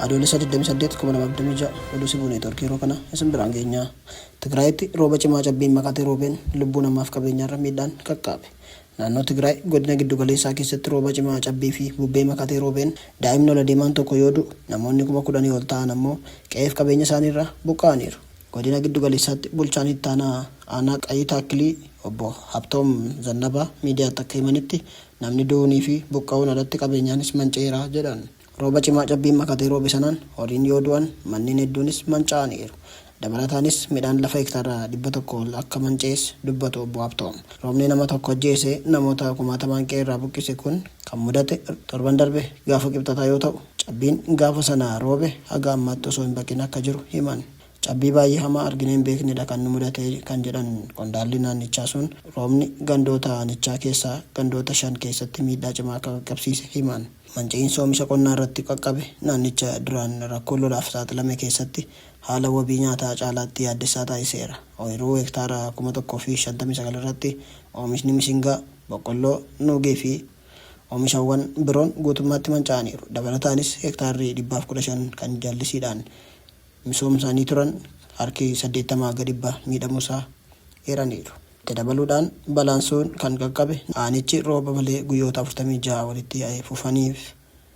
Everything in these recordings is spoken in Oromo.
Adoolessa 28 2026 oduu sibuu neetworkii yeroo kana isin biraan geenyaa. Tigraayitti rooba cimaa cabbiin makatee roobeen lubbuu namaaf qabeenyaarra miidhaan qaqqaabe. Naannoo Tigraay godina giddu galeessaa keessatti rooba cimaa cabbii fi bubbee makatee roobeen daa'imni ol adeemaan tokko yoo du'u namoonni kuma kudhanii ol ta'an ammoo qe'eef qabeenya isaaniirraa buqqa'aniiru. Godina Giddu Galeessaatti Bulchaan Ittaanaa Aanaa Qayii Taakkilii Obbo Habtoom Zannabaa miidiyaatti akka himanitti, namni du'uunii fi buqqa'uun alatti qabeenyaanis manca'eera jedhan. Rooba cimaa cabbiin makatee roobe sanaan horiin yoo du'an, manneen hedduunis manca'aniiru. Dabalataanis midhaan lafa hektaara 100 ol akka manca'es dubbatu Obbo Habtoom. Roobni nama tokko ajjeesee namoota kumaatamaan qe'eerraa buqqise kun kan mudate torban darbe gaafa Kibxataa yoo ta'u, Cabbiin gaafa sana roobe haga ammaatti osoo hin baqin akka jiru himan. Cabbii baay'ee hamaa arginee hin beeknedha kan nu mudate kan jedhan qondaalli naannichaa sun, roobni gandoota aanichaa keessaa gandoota shan keessatti miidhaa cimaa akka qaqqabsiise himan. Manca'insa oomisha qonnaa irratti qaqqabe naannicha duraan rakkoo lolaaf saaxilame keessatti haala wabii nyaataa caalaatti yaaddessaa taasiseera. Ooyiruu hektaara kuma 1 fi 59 irratti oomishni mishingaa, boqqolloo, nuugii fi Omishawwan biroon guutummaatti manca'aniiru. Dabalataanis hektaarri dhibbaaf 15 kan jallisiidhaan misoomsanii turan harki 80 hanga dhibba miidhamuusaa eeraniiru. Itti dabaluudhaan balaan sun kan qaqqabe aanichi rooba malee guyyoota 46 walitti fufaniif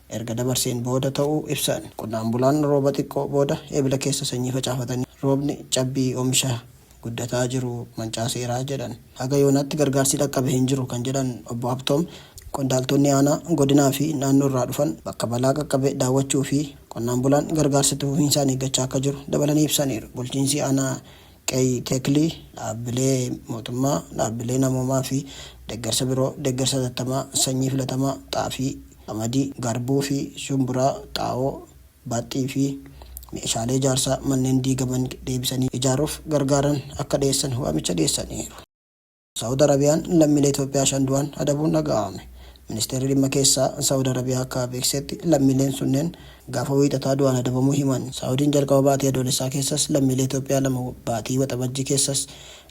erga dabarseen booda ta'uu ibsan. Qonnaan bulaan rooba xiqqoo booda Ebla keessa sanyii facaafatanii roobni cabbii omisha guddataa jiru mancaaseera jedhan. Haga yoonaatti gargaarsi dhaqqabe hin jiru kan jedhan Obbo Habtoom, qondaaltonni aanaa, godinaa fi naannoo irraa dhufan bakka balaa qaqqabe daawwachuu fi qonnaan bulaan gargaarsa itti fufiinsaan eeggachaa akka jiru dabalanii ibsaniiru. Bulchiinsi aanaa Qeyi Tekli dhaabbilee mootummaa, dhaabbilee namoomaa fi deeggarsa biroo deeggarsa hatattamaa sanyii filatamaa xaafii, qamadii, garbuu fi shumburaa, xaa'oo, baaxxii fi meeshaalee ijaarsaa manneen diigaman deebisanii ijaaruuf gargaaran akka dhiyeessan waamicha dhiyeessaniiru. Sa'ud Arabiyaan lammiilee Itoophiyaa shan du'an adabuun dhaga'ame. Ministeerri Dhimma Keessaa Sa'ud Arabiyaa akka beeksisetti lammiileen sunneen gaafa Wiixataa du'aan adabamuu himan. Sa'udiin jalqaba baatii Adoolessaa keessas lammiilee Itoophiyaa lama baatii Waxabajjii keessas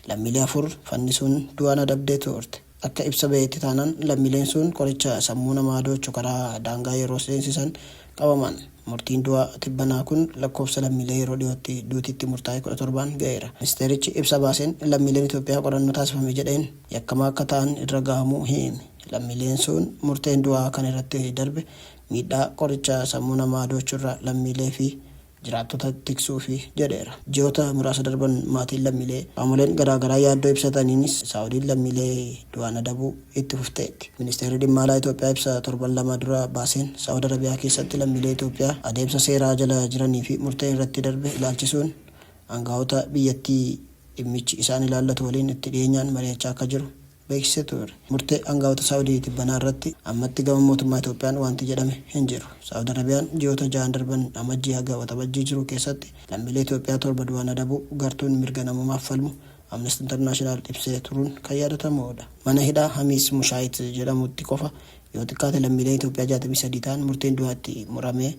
lammiilee afur fannisuun du'aan adabdee turte. Akka ibsa ba'eetti taanaan lammiileen sun qoricha sammuu namaa adoochu karaa daangaa yeroo seensisan qabaman. Murtiin du'aa tibbanaa kun lakkoofsa lammiilee yeroo dhiyootti duuti itti murtaa'e 17n ga'eera. Ministeerichi ibsa baaseen lammiileen Itoophiyaa qorannoo taasifame jedheen yakkamaa akka ta'an irra gahamuu hiime. Lammiileen suun murteen du'aa kan irratti darbe miidhaa qoricha sammuu namaa adoochurra lammiilee fi jiraattota tiksuufi jedheera. Ji'oota muraasa darban maatiin lammiilee qaamoleen garaa garaa yaaddoo ibsataniinis Saawudiin lammiilee du'aan adabuu, itti fufteetti. Ministeerri Dhimma Alaa Itoophiyaa ibsa torban lama dura baaseen, Saa'ud Arabiyaa keessatti lammiilee Itoophiyaa adeemsa seeraa jala jiranii fi murteen irratti darbe ilaalchisuun aanga'oota biyyattii dhimmichi isaan ilaallatu waliin itti dhiyeenyaan mari'achaa akka jiru beeksisee ture. Murtee aanga'oota Saa'udii tibbanaa irratti ammatti gama mootummaa Itoophiyaan waanti jedhame hin jiru. Saa'ud Arabiyaan ji'oota ja'an darban Amajjii haga Waxabajjii jiru keessatti lammiilee Itoophiyaa torba du'aan adabuu gartuun mirga namoomaaf falmu Amnesty International ibsee turuun kan yaadatamuudha. Mana hidhaa Hamiis Mushaayit jedhamutti qofa yoo xiqqaate lammiileen Itoophiyaa 63 ta'an murteen du'aa itti muramee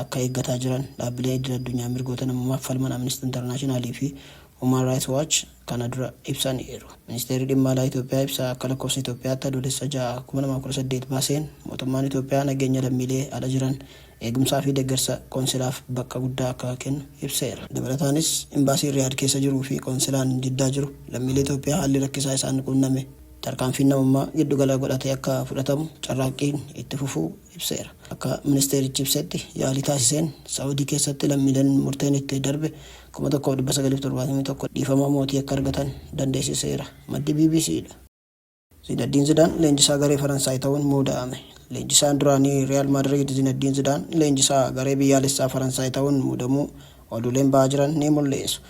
akka eeggataa jiran dhaabbileen idil addunyaa mirgoota namoomaaf falman Amnesty International fi Human Rights Watch kana dura ibsaniiru. Ministeerri Dhimma Alaa Itoophiyaa ibsa akka lakkoofsa Itoophiyaatti Adoolessa 6, 2018 baaseen, mootummaan Itoophiyaa nageenya lammiilee ala jiran eegumsaa fi deggersa qoonsilaaf bakka guddaa akka kennu ibseera. Dabalataanis, Imbaasiin Riyaad keessa jiruu fi qoonsilaan Jiddaa jiru lammiilee Itoophiyaa haalli rakkisaa isaan quunname tarkaanfiin namummaa giddu gala godhatee akka fudhatamu carraaqqiin itti fufuu ibseera. Akka ministeerichi ibsetti, yaalii taasiseen Sa'uudii keessatti lammiileen murteen itti darbe 1,971 dhiifama mootii akka argatan dandeessiseera. Maddi bbc dha. Zinaddiin Zidaan leenjisaa garee Faransaay ta'uun muuda'ame. Leenjisaan duraanii Riyaal Maadriid Zinaddiin Zidaan leenjisaa garee biyyaalessaa Faransaay ta'uun muudamuu oduuleen ba'aa jiran ni mul'isu.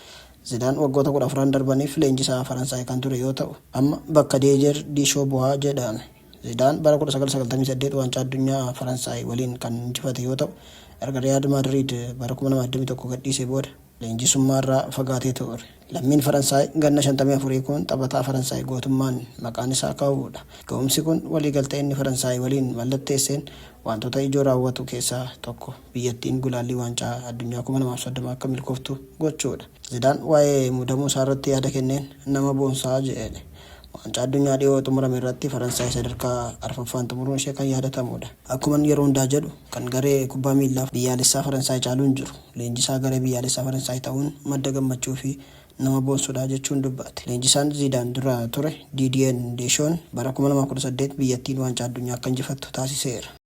Zidaan waggoota 14'n darbaniif leenjisaa Faransaay kan ture yoo ta'u, amma bakka Diijer Diishoo bu'a jedhame. Zidaan bara 1998 Waancaa Addunyaa Faransaay waliin kan injifate yoo ta'u, erga Riyaal Maadriid bara 2021 gadhiisee booda. leenjisummaarraa fagaatee ture. Lammiin Faransaay ganna 54 kun taphataa Faransaay gootummaan maqaan isaa ka'uudha. Ga'umsi kun waliigaltee inni Faransaay waliin mallatteesseen waantota ijoo raawwatu keessaa tokko biyyattiin gulaallii waancaa addunyaa 2030 akka milkooftu gochuudha. Zidaan waa'ee muudamuu isaarratti yaada kenneen nama boonsa jedhe. Waancaa addunyaa dhiyoo xumurame irratti Faransaay sadarkaa arfaffaan xumuruun ishee kan yaadatamuudha. Akkuman yeroo hundaa jedhu, kan garee kubbaa miillaa biyyaalessaa Faransaay caalu hin jiru. Leenjisaa garee biyyaalessaa Faransaay ta'uun madda gammachuufi nama boonsudha, jechuun dubbaate. Leenjisaan Ziidaan dura ture Diidiyeen Deeshoon bara 2018 biyyattiin Waancaa Addunyaa akka injifattu taasiseera.